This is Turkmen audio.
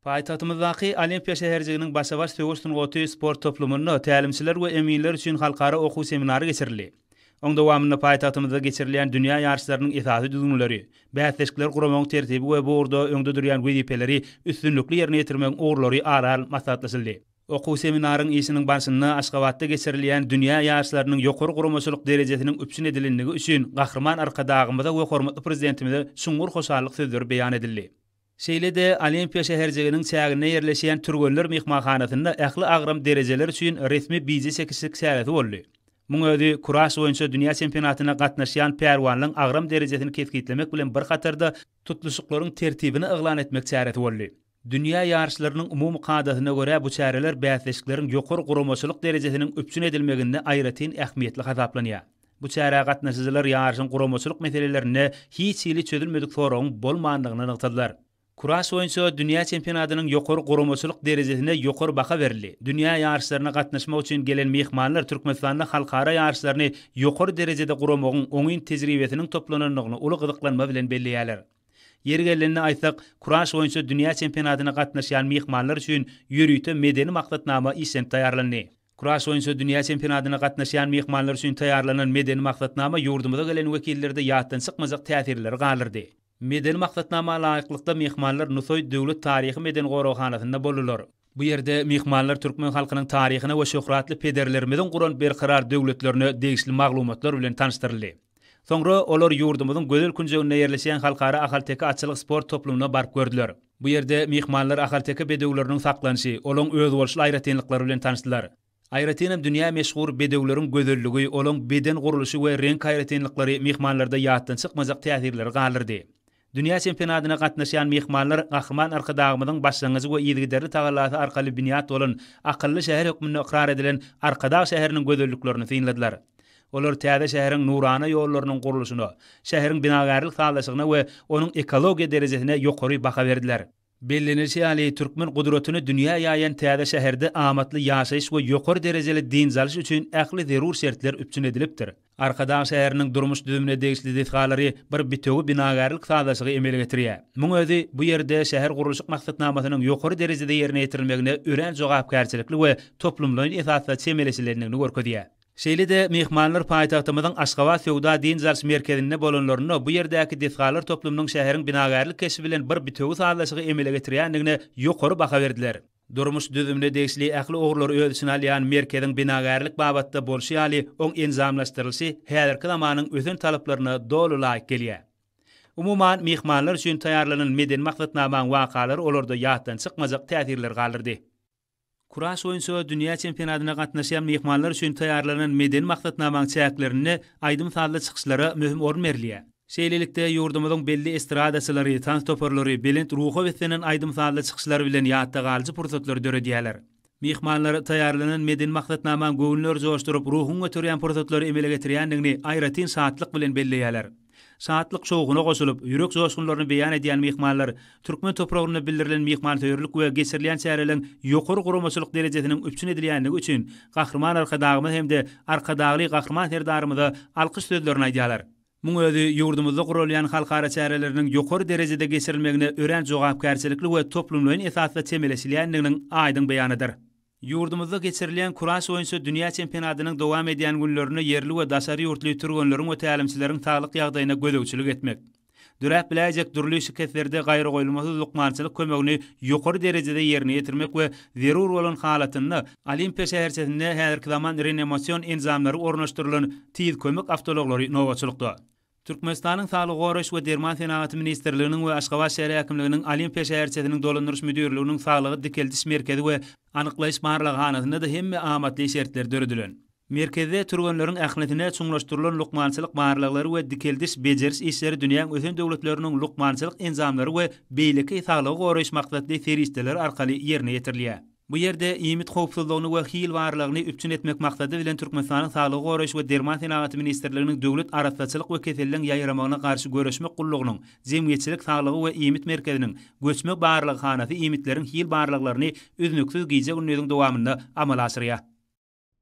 Paýtagtymyzdaky Olimpiýa şäherjiginiň Başa-baş söweş sungaty sport toplumynda tälimçiler we eminler üçin halkara okuw seminary geçirildi. Oň dowamynda paýtagtymyzda geçirilýän dünýä ýaryşlarynyň esasy düzgünleri, bäsleşikleri guramagyň tertibi we bu ugurda öňde durýan wezipeleri üstünlikli ýerine ýetirmegiň ugurlary ara alnyp maslahatlaşyldy. Okuw seminaryň işiniň barşynda Aşgabatda geçirilýän dünýä ýaryşlarynyň ýokary guramaçylyk derejesiniň üpjün edilendigi üçin Gahryman Arkadagymyza we hormatly Prezidentimize çuňňur hoşallyk sözleri beýan edildi. Şeýle-de, Olimpiýa şäherjiginiň çäginde ýerleşýän Türgenler myhmanhanasynda ähli agram derejeler üçin resmi bije çekişlik çäresi boldy. Muň özi kuraş boýunça dünýä çempionatyna gatnaşýan pälwanlaryň agram derejesini kesgitlemek bilen bir hatarda, tutluşyklaryň tertibini yglan etmek çäresi boldy. Dünýä ýaryşlarynyň umumy kadasyna görä, bu çäreler bäsleşikleriň ýokary guramaçylyk derejesiniň üpjün edilmeginde aýratyn ähmiýetli hasaplanýar. Bu çärä gatnaşyjylar ýaryşyň guramaçylyk meselelerinde hiç hili çözülmedik soragyň bolmandygyny nygtadylar. Kuraş boýunça dünýä çempionatynyň ýokary guramaçylyk derejesine ýokary baha berildi. Dünýä ýaryşlaryna gatnaşmak üçin gelen myhmanlar Türkmenistanda halkara ýaryşlaryny ýokary derejede guramagyň oňyn tejribesiniň toplanandygyny uly gyzyklanma bilen belleýärler. Ýeri gelende aýtsak, kuraş boýunça dünýä çempionatyna gatnaşýan myhmanlar üçin ýörite medeni maksatnama işlenip taýýarlandy. Kuraş boýunça dünýä çempionatyna gatnaşýan myhmanlar üçin taýýarlanan medeni maksatnama ýurdumyza gelen wekillerde ýatdan çykmajak täsirleri galdyrdy. Medeni maksatnama laýyklykda, myhmanlar Nusaý döwlet taryhy-medeni goraghanasynda boldular. Bu ýerde myhmanlar türkmen halkynyň taryhyna we şöhratly pederlerimiziň guran Berkarar döwletlerine degişli maglumatlar bilen tanyşdyryldy. Soňra olar ýurdumyzyň gözel künjeginde ýerleşýän Halkara ahalteke atçylyk sport toplumyna baryp gördüler. Bu ýerde myhmanlar ahalteke bedewleriniň saklanşy, olaň özboluşly aýratynlyklary bilen tanyşdylar. Aýratynam dünýä meşhur bedewleriň gözelligi, olaň beden gurluşy we reňk aýratynlyklary myhmanlarda ýatdan çykmajak täsirleri galdyrdy. Dünýä çempionatyna gatnaşýan myhmanlar Gahryman Arkadagymyzyň başlangyjy we yzygiderli tagallasy arkaly binýat bolan akylly şäher hökmünde ykrar edilen Arkadag şäheriniň gözelliklerini synladylar. Olar täze şäheriň nurana ýollarynyň gurluşyna, şäheriň binagärlik sazlaşygyna we onuň ekologiýa derejesine ýokary baha berdiler. Bellenilişi ýaly, türkmen gudratyny dünýä ýaýan täze şäherde amatly ýaşaýyş we ýokary derejeli dynç alyş üçin ähli zerur şertler üpjün edilipdir. Arkadag şäheriniň durmuş düzümine degişli desgalary bir bitewi binagärlik sazlaşygy emele getirýär. Muň özi bu ýerde şähergurluşyk maksatnamasynyň ýokary derejede ýerine ýetirilmegine örän jogapkärçilikli we toplumlaýyn esasda çemeleşilendigini görkezýär. Şeýle-de, myhmanlar paýtagtymyzyň Aşgabat söwda-dynç alyş merkezinde bolanlarynda bu ýerdäki desgalar toplumynyň şäheriň binagärlik keşbi bilen bir bitewi sazlaşygy emele getirýändigine ýokary baha berdiler. Durmuş düzümine degişli ähli ugurlary öz içine alýan merkeziň binagärlik babatda bolşy ýaly, oň enjamlaşdyrylyşy häzirki zamanyň ösen talaplaryna doly laýyk gelýär. Umuman, myhmanlar üçin taýýarlanan medeni maksatnamaň wakalary olarda ýatdan çykmajak täsirleri galdyrdy. Kuraş boýunça dünýä çempionatyna gatnaşýan myhmanlar üçin taýýarlanan medeni maksatnamaň çäklerinde aýdym-sazly çykyşlara möhüm orun berilýär. Şeýlelikde, ýurdumyzyň belli estradaçylary, tans toparlary belent ruha beslenen aýdym-sazly çykyşlary bilen ýatda galyjy pursatlary döredýärler. Myhmanlar taýýarlanan medeni maksatnamaň göwünleri joşduryp, ruhuňy göterýän pursatlary emele getirýändigini aýratyn şatlyk bilen belleýärler. Şatlyk-şowhuna goşulyp, ýürek joşgunlaryny beýan edýän myhmanlar türkmen topragynda bildirilen myhmansöýerlik we geçirilen çäreleriň ýokary guramaçylyk derejesiniň üpjün edilýändigi üçin Gahryman Arkadagymyza hem-de Arkadagly Gahryman Serdarymyza alkyş sözlerini aýdýarlar. Muň özi ýurdumyzda guralýan halkara çäreleriniň ýokary derejede geçirilmegine örän jogapkärçilikli we toplumlaýyn esasda çemeleşilýändiginiň aýdyň beýanydyr. Ýurdumyzda geçirilýän kuraş boýunça dünýä çempionatynyň dowam edýän günlerinde ýerli we daşary ýurtly türgenleriň we tälimçileriň saglyk ýagdaýyna gözegçilik etmek, döräp biläýjek dürli şikeslerde gaýragoýulmasyz lukmançylyk kömegini ýokary derejede ýerine ýetirmek we zerur bolan halatynda Olimpiýa şäherçesinde häzirki zaman renemosion enjamlary ornaşdyrylan Tiz kömek awtoulaglary nobatçylykda Türkmenistanyň Saglygy goraýyş we derman senagaty ministrliginiň we Aşgabat şäher häkimliginiň Olimpiýa şäherçesiniň dolandyryş müdirliginiň saglygy dikeldiş merkezi we anyklaýyş barlaghanasynda-da hemme amatly şertler döredilen. Merkezde türgenleriň ählisine çuňlaşdyrylan lukmançylyk barlaglary we dikeldiş, bejeriş işleri dünýäň ösen döwletleriniň lukmançylyk enjamlary we beýleki saglygy goraýyş maksatly serişdeleri arkaly ýerine ýetirilýär. Bu ýerde iýmit howpsuzlygyny we hilwarlygyny üpjün etmek maksady bilen Türkmenistanyň Saglygy goraýyş we derman senagaty ministrliginiň Döwlet arassaçylyk we keselleriň ýaýramagyna garşy göreşmek gullugynyň Jemgyýetçilik saglygy we iýmit merkeziniň göçme barlaghanasy iýmitleriň hil barlaglaryny üznüksiz gije-gündiziň dowamynda amala aşyrýar.